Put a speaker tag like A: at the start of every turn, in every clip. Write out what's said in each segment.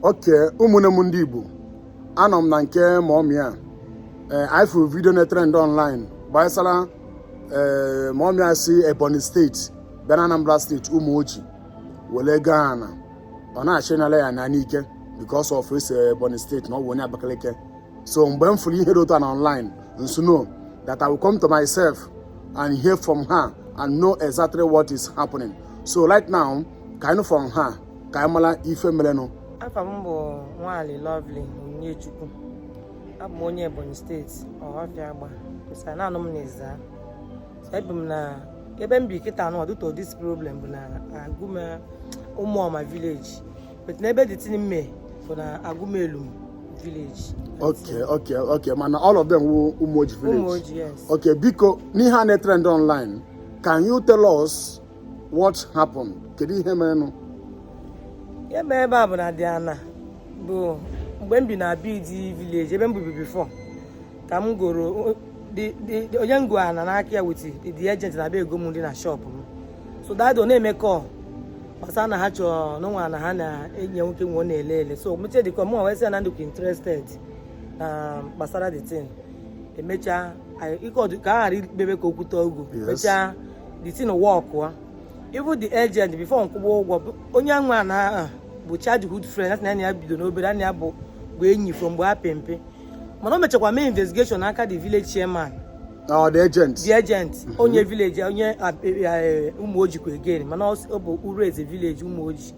A: okay ụmụnne m ndị Igbo anọ m na nke mọmị a ee eh, ifụ vidio na-etrend online gbasara ee eh, mọmị a si Ebonyi steeti bịa na Anambra steeti Umuoji were goo ana ọ na-achọ ịnala ya ana n'ike because of o si Ebonyi steeti na ọ bụ onye Abakaliki so mgbe m fụrụ ihe dị otu a na online m sị no that I will come to myself and hear from her and know exactly what is happening so right now ka anyị from her ka anyị mara ife merenụ afa m
B: bụ Nwali Lovely Onyechukwu abụ m onye Ebonyi steeti Ohofia Agba bet a na-anụ m na Ezza ebi m na ebe m bi kịta a now due to dis problem bụ na Agụma Ụmụọma vileji bet na ebe the thing nọ mee bụ na Agụmaelum village. Okay, okay,
A: okay. Mana all of them wụ Umoji village. Umoji, yes. Okay,
B: Biko, n'ihe
A: a na-etrend online. Can you tell us What happened? Kedu ihe
B: merenụ? Ihe mere ebe a bụ na the ana bụ mgbe m bi na Abidi village ebe m bibi before ka m goro onye m go ana n'aka ya with the agent na be ego m dị na shop m so dat day ọ na-eme kọl gbasa na ha chọrọ na o nwe ana ha na enyi ya nwoke nwe ọ na-ele ele so mechaa dịka mụ wee sị na m dịkwa interested na gbasara the thing emechaa ka a ghara ikpebe ka okwu too ogo mechaa the thing work ah. even the agent before nkwụba ụgwọ onye nwe ana ahụ bụ childhood friend asị na ya bido n'obere ya na ya bụ bụ enyi from mgbe ha pe mpe mana o mechakwa mee investigeshon n'aka the village chairman ah, the agent the agent mhm. onye village onye eh, eh, Umuojikwa again mana ọ bụ Urueze village Umuoji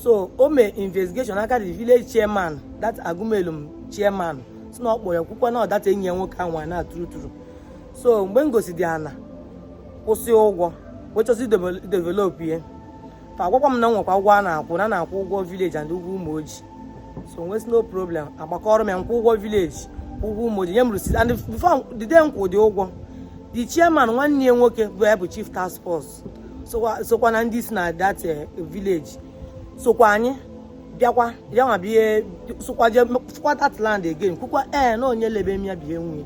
B: so o mee investigeshon n'aka the village chairman that Agụmaelum chairman sị na ọ kpọrọ ya kwukwa na ọ dat enyi ya nwoke nwe ana true true so mgbe m gosị the ana kwụsị ụgwọ wee chọzi develop ihe fa agwakwa m na nwekwa ụgwọ a na-akwụ na na-akwụ ụgwọ vileji and ụgwọ Umuoji so m wee sị no problem agbakọrọ m ya nkwụ ụgwọ vileji ụgwọ Umuoji nye m receipt and before the day m kwụ the ụgwọ the chairman nwanne ya nwoke bụ ya bụ chief task force sokwa na ndị si na that eh, village sokwa anyị bịakwa ya nwa bịa sokwa jee fụkwa that land again kwukwa ee eh, na onye lebe m ya bụ ya nwe ya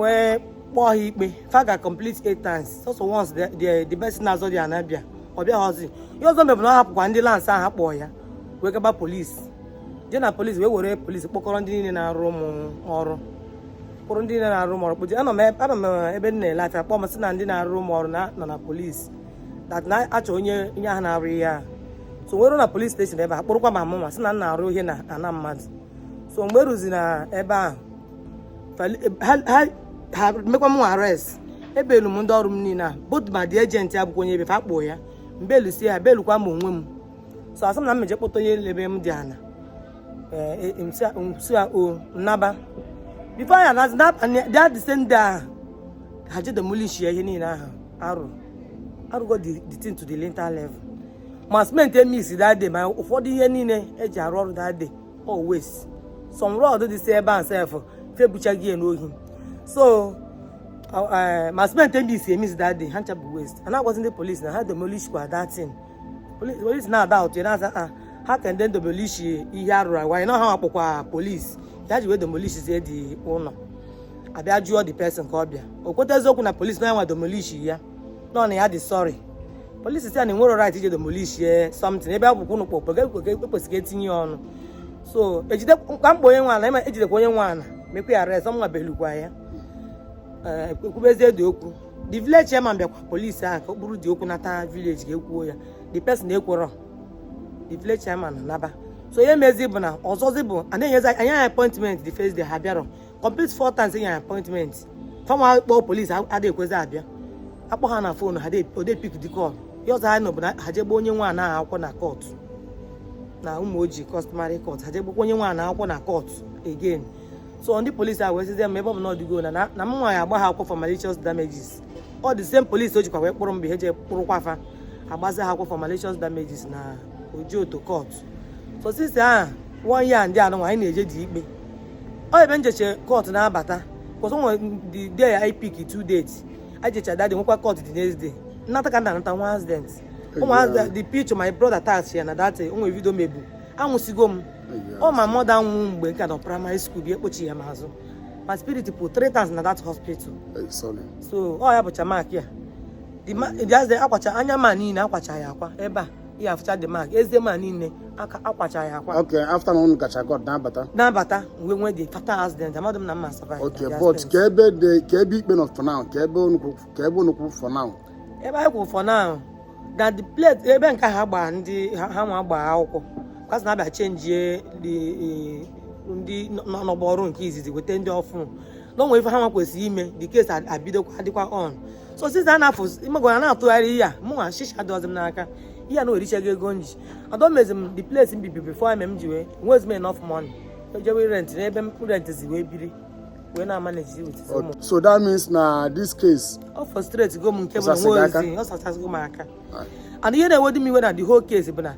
B: wee kpọọ ha ikpe fa ga complete eight times sọsọ once the person na-azọ the ana bịa ọ bịaghọzi ihe ọzọ me bụ na ọ hapụkwa ndị lands ahụ kpọọ ya wee gaba polisi jee na polisi wee were polisi kpọkọrọ ndị niile na-arụ m ọrụ kpụrụ ndị niile na-arụ m ọrụ kpọchie anọ m ebe m na-ele afịa kpọọ m sị na ndị na-arụ m ọrụ nọ na polisi dat na-achọ onye onye ahụ na-arụ ihe ahụ so m wee ruo na polisi steshọn ebe a kpụrụkwa ma mụnwa sị na m na-arụ ihe na ana mmadụ so mgbe eruzi na ebe ahụ ha mekwa m arrest ebelu m ndị ọrụ m niile a both ma the agent abụkwa onye ebe fa kpọọ ya mbelu si ya belukwa m onwe m so asị m na m meje kpọta onye lebe m the ana eh, e, nsi a o nnaba before ya na that the same day ha je demolish ya ihe niile ahụ arụ arụgo the thing to the lintel level ma cement e mix that day ma ụfọdụ ihe niile eji arụ ọrụ that day always some rod dị si ebe a sef febuchaghị ya n'ohi so eh, ma cement ndị e mix that day ha ncha bụ waste a na-agwazi ndị police na ha demolishkwa that thing police na-ada ụtụ na-aza ha ha ka ndị demolish ihe a rụrụ a gwa na ha nwa kpọkwa police ya ji wee demolishzie the ụlọ a bịa jụọ the person ka ọ bịa o kweta eziokwu na police na ya nwa demolish ya nọ na ya dị sorry police sị ya na i nwerọ right ije demolish something ebe akwụkwọ ụnụ kpọkpọ ekwesịghị etinye ya ọnụ so ejide mkpa mkpa onye nwe ala ema ejidekwa onye nwe ala mekwa ya arrest ọ mụ nwa belukwa ya eh, e kwubezie the okwu the village chairman bịakwa police ahụ ka o buru the okwu nata village ka e kwuo ya the person ekwerọ the village chairman naba so ihe mezi bụ na ọzọzi bụ a na-enyezi anyị appointment the first day ha bịarọ complete four times e nye appointment fa ma akpọ police adịghị ekwezi abịa akpọ ha na phone ha ode pick the call ihe ọzọ a nụ bụ na ha je gba onye nwe ana akwụkwọ na court na Umuoji customary court ha je gbakwa onye nwe ana akwụkwọ na court again so ndị police a wee sịzie m ebe ọ bụ na ọ dịgo na na m nwa ya agba ha akwụkwọ for malicious damages ọ the same police ahụ jikwa wee kpụrụ mgbe ha je kpụrụkwa fa agbazi ha akwụkwọ for malicious damages na Ojoto court so since ahụ one year ndị anụ anyị na-eje the ikpe ọ ebe m jecha court na-abata because e nwe the day e pick two dates e jecha that day e nwekwa court the next day nnata ka m na-anata nwee accident ụmụazị the picture my brother attach ya na that eh, o nwe video e mebu anwụsigo m ọ my mother nwụ mgbe m ka nọ primary school bịa kpochi ya n'azụ my spirit pụ three times na that hospital eh, so ọ ya bụcha mark ya the akwacha anya m a niile akwacha ya akwa ebe a ya afụcha the mark eze m a niile aka akwacha ya akwa okay after na unu
A: gacha court na-abata na-abata wee nwee the
B: fatal accident amadụ m na m ma survive okay the but accident. kee
A: ebe the kee ebe ikpe nọ for now kee ebe unu kwụ kee ebe unu kwụ for now ebe anyị kwụrụ for
B: now na the place ebe nke ha gbaa ndị ha ha nwa gbaa akwụkwọ because na a bịa change the, eh, ndị nọ- nọ n'ọgbọ ọrụ nke izizi weta ndị ọfụ na o nwere ife ha nwa kwesịrị ime the case ad- abidokwa dịkwa on so since a na-afụ ịmagwara na-atụgharị ihe a mụnwa shisha dọzi m n'aka ihe a na orichago ego m ji adomezi m the place m bibi before eme m ji wee nwezi m enough money ejewe rent n'ebe m rent zi wee biri wee na-amanage with ụmụ so that means na
A: this case ọ frustrate go
B: m nke bụ na Ọsasị gị nwa aka? ozi ọ sachasịgo m aka Ah. and ihe na-ewedu m iwe na the whole case bụ na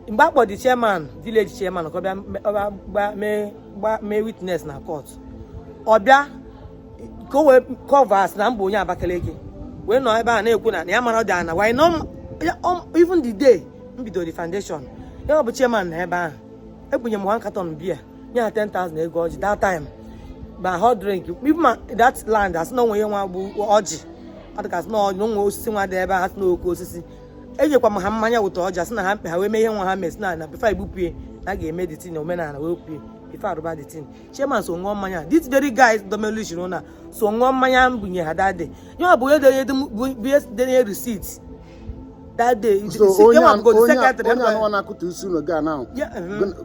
B: mgbe a kpọ the chairman village chairman ka ọ bịa me- ọ bịa gba- mee gba- mee witness na court ọ bịa ka o wee covers na m bụ onye Abakaliki wee nọ ebe a na-ekwu na ya amarọ the ana why no even the day m bidoro the foundation ya bụ chairman nọ ebe ahụ ebunye m one carton beer nye ha 10,000 ego ọjị that time ma hot drink even ma that land a sị na o nwe ihe nwa bụ ọjị adịgasị na ọjị o nwe osisi nwa dị ebe a asị na oke osisi ejekwa m ha mmanya wụta ọjị asị na ha mkpe ha wee mee ihe nwa ha mee sị na na before igbupie na a ga-eme the thing omenala wee pie before arụba the thing chairman so ṅụọ mmanya this very guy domelu jiri ụna so ṅụọ mmanya m bunye ha that day ya bụ onye denye bie denye receipt that day
A: onye anụwa na-akụta isi ụlọ ga ahụ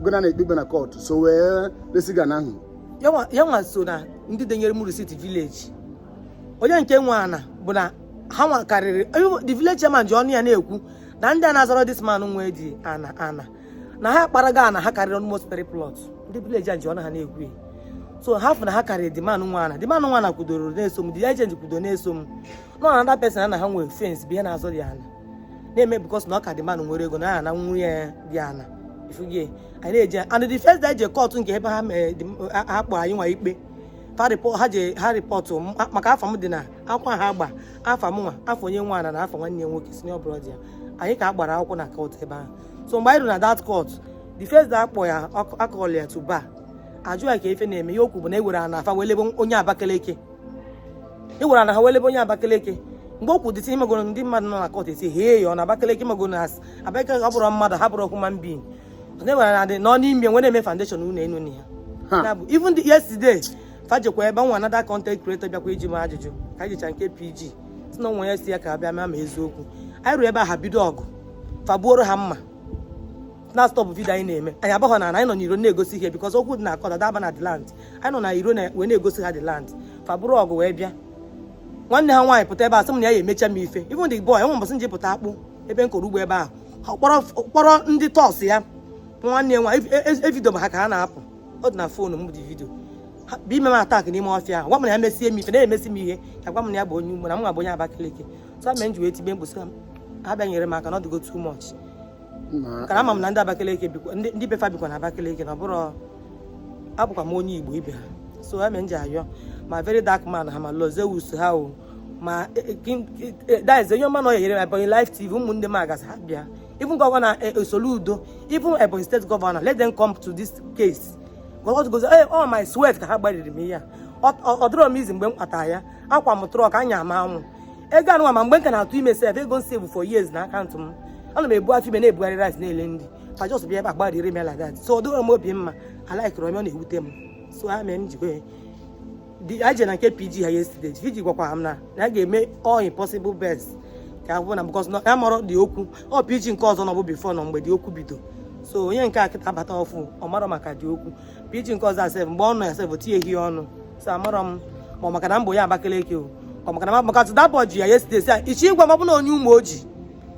A: gụna na-ekpegbe na court so wee resiga ana ahụ ya nwa
B: so na ndị denyere m receipt village onye nke nwe ana bụ na ha nwa karịrị the village chairman ji ọnụ ya na-ekwu na ndị a na-azọrọ this man nwe the ana ana na ha kparaga ana ha karịrị almost three plots ndị village a ji ọnụ ha na-ekwu so ha fụ na ha karịrị the man nwe ana the man nwe ana kwudoro na-eso m the agent kwudo na-eso m na another person na ha nwere fence bụ ha na-azọ the ana na-eme because na ọ ka the man nwere ego na ya na nwunye the ana ị fụgo ya anyị na-eje and the first day je court nke ebe ha eh, ha kpọ anyị nwa ikpe ha ji ha report maka afa m dị na akwụkwọ ha gba afa m nwa afa onye nwe ana na afa nwanne nwoke senior brother anyị ka a gbara akwụkwọ na court ebe ahụ so mgbe anyị ruru na that court the first day a kpọọ ya a call ya to bar ajụ ya ka ife na-eme ihe o kwu bụ na ewere ana afa wee lebe onye Abakaliki ewere ana ha wee lebe onye Abakaliki mgbe o kwu the thing imegoro ndị mmadụ nọ na court asị hee ya ọ na Abakaliki imegoro na asị Abakaliki abụrọ mmadụ ha abụrọ human being na ewere ana dị ọnụ nye m wee na-eme foundation ụlọ enu na ya even yesterday fa jekwa ebe nwa another content creator bịakwa ịjụ m ajụjụ ka anyị jicha nke PG si na nwa ya si ya ka a bịa ma ma eziokwu anyị ruo ebe a ha bido ọgụ fa gbuoro ha mma na stop video anyị na-eme anyị abarọ na anyị nọ n'iro na-egosi ihe because okwu dị na court ada aba na the land anyị nọ na iro wee na-egosi ha the land fa buru ọgụ wee bịa nwanne ha nwaanyị pụta ebe a sị m na ya ya emecha m ife even the boy o nwe mbọsị m ji pụta akpụ ebe m kọrọ ugbo ebe ahụ kpọrọ ndị touts ya nwanne ya nwaanyị e video e, e, e, ma ha ka ha na-apụ ọ dị na fon m the video bụ ime m attack n'ime ọfịa ahụ gwa m na ya mesie m ife na-emesi m ihe ka gwa m na ya bụ onye Igbo na mụnwa bụ onye Abakaliki so mere m ji wee tibe mkpu sị ha bịa nyere m aka na ọ dịgo too much kana ama m na ndị Abakaliki ndị be fa bikwa na Abakaliki na ọ bụrụ abụkwa m onye Igbo ibe ha so ha mere m ji ayọ ma very dark man ha ma Lord Zeus ha o ma eh, eh, eh, that is onye ọ ma na ọ ya-enyere m Ebonyi live tv ụmụnne m agazi ha bịa even gọvanọ eh, eh, Soludo even Ebonyi steeti gọvanọ let them come to this case because gozi ee ọ my sweat ka ha gbariri m ihe a ọ dịrọ m easy mgbe m kpatara ya akwa m truck anya m anwụ ego anụnwa ma mgbe m ka na-atụ ime sef ego m save for years na akaụntụ m ana m ebu afọ ime na-ebugharị rice na-ele ndị ka just bịa ebe a gbariri m ya like that so ọ dịrọ m obi mma alaikirọ m ya ọ na-ewute m so ha mee m jikwa anyị jere na nke pg ha yesterday pg gwakwa m na ya ga-eme all his possible best ka a hụ na because ya amarọ the okwu ọ pg nke ọzọ nọbu before na mgbe the okwu bido so onye nke a kịta abata ọfụụ ọ marọ maka the okwu pg nke ọzọ a sef mgbe ọ nọ ya sef tinye hi ọnụ so amarọ m ma ọ maka na m bụ onye Abakaliki o ọ maka na maka tudabọ ji ya yesterday sị ya ichie ịgwa m ọ bụ na onye Umuoji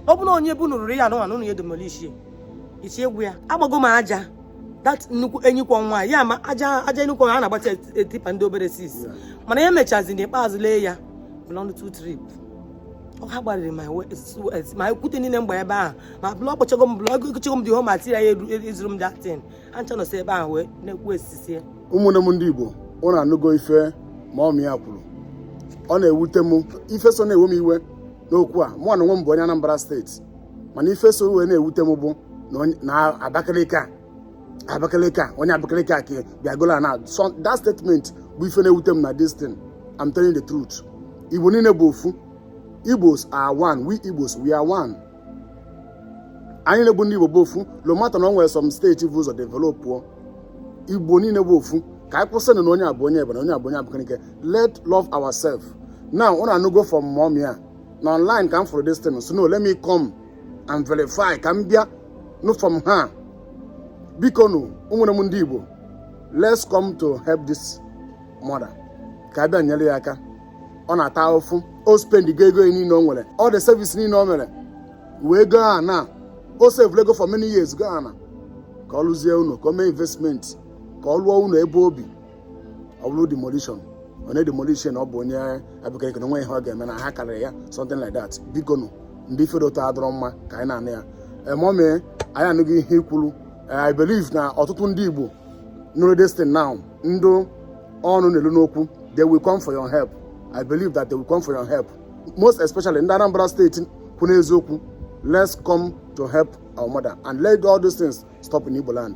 B: ọ bụ na onye bu nụrụrụ ya anụnwa na ụnụ ya-edemolish ichie egwu ya agbago m aja that nnukwu enyikwọ nwa ya ma aja aja enyikwọ ha na-agbata tipper ndị obere sis mana ya mechazi n'ikpeazụ lee ya blọnd two trip ọ ha gbarịrị ma we- s- s- ma okwute niile mgbe ebe ahụ ma block akpụchago m block egochago m the whole material eru- ezuru m that thing ncha nọsị ebe ahụ wee na-ekwu esisie ụmụnne m ndị
A: igbo ụnụ anụgo ife mọmị a kwuru ọ na-ewute m ife so na-ewe m iwe n'okwu a mụ na onwe m bụ onye anambra steeti mana ife so wee na-ewute m bụ na Abakaliki a Abakaliki a onye Abakaliki a ka bịa golo ana that statement bụ ife na-ewute m na this thing I'm telling the truth Igbo niile bụ ofu Igbos are one we Igbos we are one anyị nwa bụ ndị Igbo bụ ofu no matter na o nwere some steeti bu ụzọ developụọ Igbo niile bụ ofu ka anyị kwụsịnụ na onye a bụ onye Ebonyi onye a bụ onye Abakaliki let love ourselves now ụnụ anụgo from mọmị a na online ka m fụrụ this thing so no let me come and verify ka m bịa nụ from her bikonụ ụmụnne m ndị Igbo let's come to help this mother ka a bịa nyere ya aka ọ na-ata ahụfụ o spend go ego niile o nwere all the savings niile o mere wee go ana o save ego for many years go ana ka ọ lụzie unu ka o mee investment ka ọ lụọ unu ebe o bi ọ bụrụ demolition ọ na-edemolish ọ bụ onye Abakaliki na o nwe ihe ọ ga-eme na ha karịrị ya something like that bikonụ ụdị ife etu a adịrọ mma ka anyị na-anụ ya mọmị eh, anyị anụgo ihe i kwuru eh, i believe na ọtụtụ ndị igbo nụrụ this thing now ndị ọnụ na-elu n'okwu they will come for your help i believe that they will come for your help most especially ndị anambra steeti kwụ n'eziokwu let's come to help our mother and let all those things stop in igbo land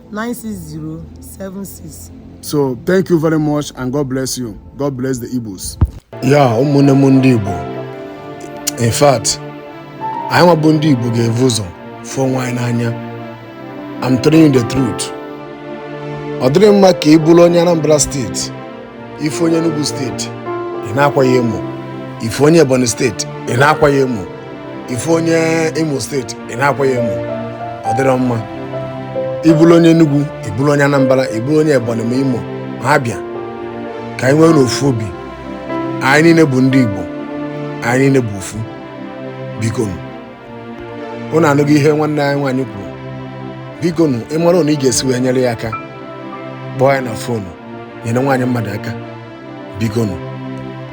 B: 96076. So
A: thank you very much and God bless you. God bless the Igbos. Yeah, ụmụnne m ndị Igbo. In fact, anyị nwa bụ ndị Igbo ga-evu ụzọ fụ onwe anyị n'anya. I'm telling you the truth. Ọ dịrọ mma ka ị bụrụ onye Anambra steeti ị fụ onye Enugu steeti ị na-akwa ya emo ị fụ onye Ebonyi steeti ị na-akwa ya emo ị fụ onye Imo steeti ị na-akwa ya emo ọ dịrọ mma ị bụlụ onye Enugu ị bụlụ onye Anambra ị bụlụ onye Ebonyi ma Imo ma Abịa ka anyị nweenụ ofu obi anyị niine bụ ndị Igbo anyị niine bụ ofu biko nụ unu anụgo ihe nwanne anyị nwaanyị kwuru biko nụ ị mara na ị ga-esi wee nyere ya aka kpọọ ya na foonu nyere nwaanyị mmadụ aka biko nụ